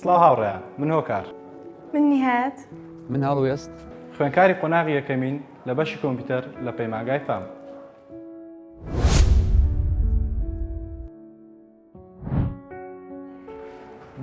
سڵاو هاوڕێ من هۆکار من نهات من هەڵوێست خوێنکاری قۆناغی یەکەمین لە بەشی کۆمپیوتەر لە پەیماگای فام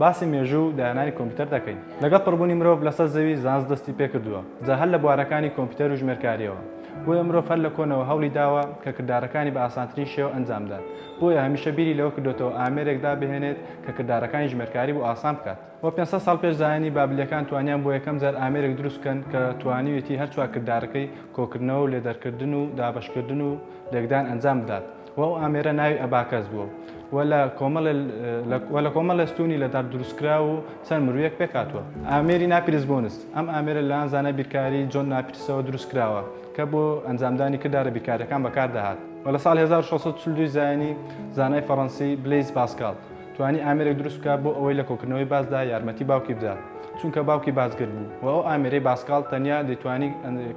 باسی مێژوو و داهێنانی کۆمپیوتەر دەکەین لەگەڵ پڕبوونی مرۆڤ لەسەر زەوی زانست دەستی پێکردووە جا هەر لە بوارەکانی کۆمپیوتەر و ژمێرکاریەوە بۆیە مرۆڤ هەر لە کۆنەوە هەوڵی داوە کە کردارەکانی بە ئاسانترین شێوە ئەنجامدات بۆیە هەمیشە بیری لەوە کردوێتەوە ئامێرێک دابهێنێت کە کردارەکانی ژمێرکاری بۆ ئاسان بکات وە 500 ساڵ پێش زایانی بابلیەکان توانیان بۆ یەکەم جار ئامێرێک دروست بکەن کە توانیوێتی هەر چوار کردارەکەی کۆکردنەوە و لێدەرکردن و دابەشکردن و لێکدان ئەنجام بدات و ئەو ئامێرە ناوی ئەباکەس بووە و لە کۆمەڵێ و لە کۆمەڵێ ستوونی لە دار دروستکراو و چەند مروویەک پێکهاتووە. ئامێری ناپیرس بۆنس، ئەم ئامێرە لەلایەن زانای بیرکاری جۆن ناپیرسەوە دروستکراوە کە بۆ ئەنجامدانی کردارە بیرکارییەکان بەکاردەهات و لە ساڵی هەزار و شەش سەد و چل و دوو زایینی زانای فەڕەنسی بلەیز پاسکاڵ توانی ئامێرێک دروست بکات بۆ ئەوەی لە کۆکردنەوەی باسدا یارمەتی باوکی بدات چونکە باوکی باسگر بوو و ئەو ئامێرەی باسکاڵ تەنیا دەیتوانی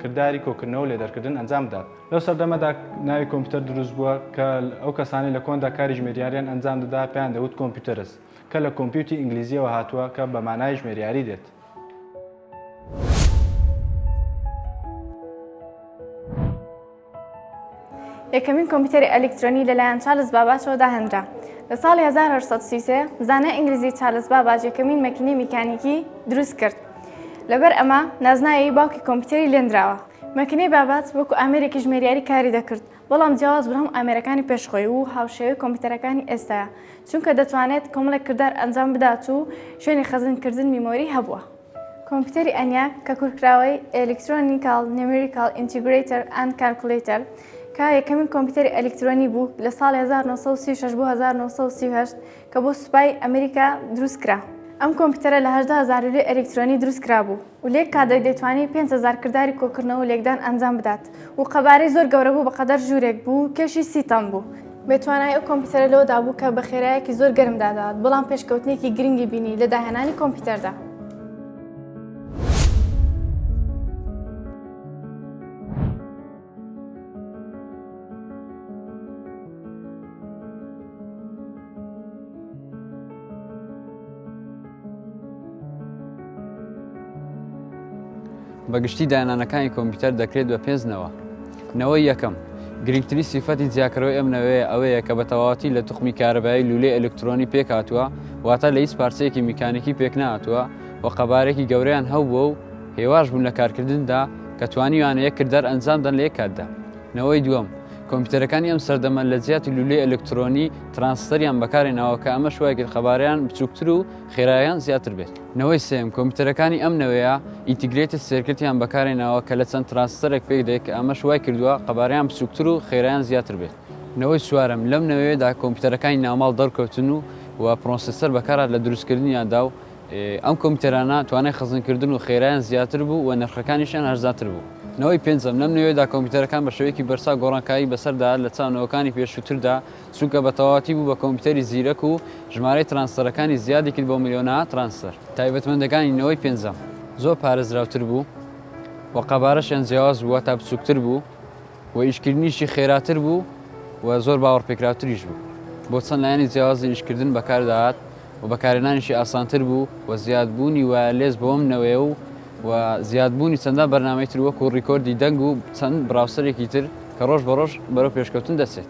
کرداری کۆکردنەوە و لێدەرکردن ئەنجام بدات. لەو سەردەمەدا ناوی کۆمپیوتەر دروست بووە کە ئەو کەسانەی لە کۆندا کاری ژمێریاریان ئەنجام دەدا پێیان دەوت کۆمپیوتەرس کە لە کۆمپیوتی ئینگلیزیەوە هاتووە کە بە مانای ژمێریاری دێت. یەکەمین کۆمپیوتەری ئەلیکترۆنی لەلایەن چارلز باباچەوە داهێنرا لە ساڵی 1933 زانە ئینگلیزی چارلز باباج یەکەمین مەکینی میکانیکی دروست کرد لەبەر ئەمە نازناوی باوکی کۆمپیوتەری لێنراوە مەکینەی بابات وەکو ئامێرێکی ژمێریاری کاری دەکرد، بەڵام جیاواز بوو لە هەموو ئامێرەکانی پێش خۆی و هاوشێوەی کۆمپیوتەرەکانی ئێستایە، چونکە دەتوانێت کۆمەڵێک کردار ئەنجام بدات و شوێنی خەزنکردن میمۆری هەبووە. کۆمپیوتەری ئەنیاک کە کورتکراوەی Electronical Numerical Integrator and Calculator کە یەکەمین کۆمپیوتەری ئەلیکترۆنی بوو لە ساڵی هەزار و نۆ سەد و سی و شەش بۆ هەزار و نۆ سەد و سی و هەشت، کە بۆ سوپای ئەمریکا دروست کرا ئەم کۆمپیوتەرە لە هەژدە هەزار لوێ ئەلیکترۆنی دروست کرابوو و لە یەک کادر دەیتوانی پێنج هەزار کرداری کۆکردنەوە و لێکدان ئەنجام بدات و قەبارەی زۆر گەورە بوو بەقەدەر ژوورێک بوو و کێشی سی تەن بوو. بێ توانای ئەو کۆمپیوتەرە لەوەدا بوو کە بە خێرایەکی زۆر گەرم دادات بەڵام پێشکەوتنێکی گرنگی بینی لە داهێنانی کۆمپیوتەردا. بەگشتی دانانەکانی کۆمپیوتەر دەکرێت بە پێنجنەوە نەوەی یەکەم گرنگترین سیفەتی جیاکەرەوەی ئەم نەوەیە ئەوەیە کە بە تەواتی لە توخمی کارەبایی لولەی ئەلکترۆنی پێکاتوە واتە لە هیچ پارچەیەکی میکانیکی پێکناتوە و قەبارێکی گەوریان هەبووە و هێواش بوون لە کارکردندا کە توانیویانە یەک کردار ئەنجام دەن لە یەک کاتدا. نەوەی دووەم، کۆمپیوتەرەکانی ئەم سەردەمە لە جیاتی لولەی ئەلکترۆنی، ترانستەریان بەکارهێناوە کە ئەمەش وای کرد قەبارەیان بچووکتر و خێراییان زیاتر بێت. نەوەی سێیەم، کۆمپیوتەرەکانی ئەم نەوەیە ئینتیگرەیتد سێرکتیان بەکارهێناوە کە لە چەند ترانستەرێک پێکدێت کە ئەمەش وای کردووە قەبارەیان بچووکتر و خێراییان زیاتر بێت. نەوەی چوارەم، لەم نەوەیەدا کۆمپیوتەرەکانی ناوماڵ دەرکەوتن و و پرۆسێسەر بەکارهات لە دروستکردنیاندا و ئەم کۆمپیوتەرانە توانای خەزنکردن و خێرایان زیاتر بوو و نرخەکانیشیان هەرزانتر بوو. نەوەی پێنجەم، لەم نەوەیەدا کۆمپیوتەرەکان بە شێوەیەکی بەرچاو گۆڕانکاری بەسەردا لە چاو نەوەکانی پێشووتردا، چونکە بە تەواوەتی بوو بە کۆمپیوتەری زیرەک و ژمارەی ترانستەرەکانی زیادی کرد بۆ ملیۆنەها ترانستەر. تایبەتمەندەکانی نەوەی پێنجەم زۆر پارێزراوتر بوو و قەبارەشیان جیاواز بوو، واتا بچووکتر بوو. و ئیشکردنیشی خێراتر بوو و زۆر باوەڕپێکراوتریش بوو. بۆ چەند لایەنی جیاوازی ئیشکردن بەکاردەهات و بەکارهێنانیشی ئاسانتر بوو و زیادبوونی وایەرلێس بۆم نەوەیە و و زیادبوونی چەندان بەرنامەی تر وەکوو ڕیکۆردی دەنگ و چەند بڕاوسەرێکی تر کە ڕۆژ بە ڕۆژ بەرەو پێشکەوتن دەچێت.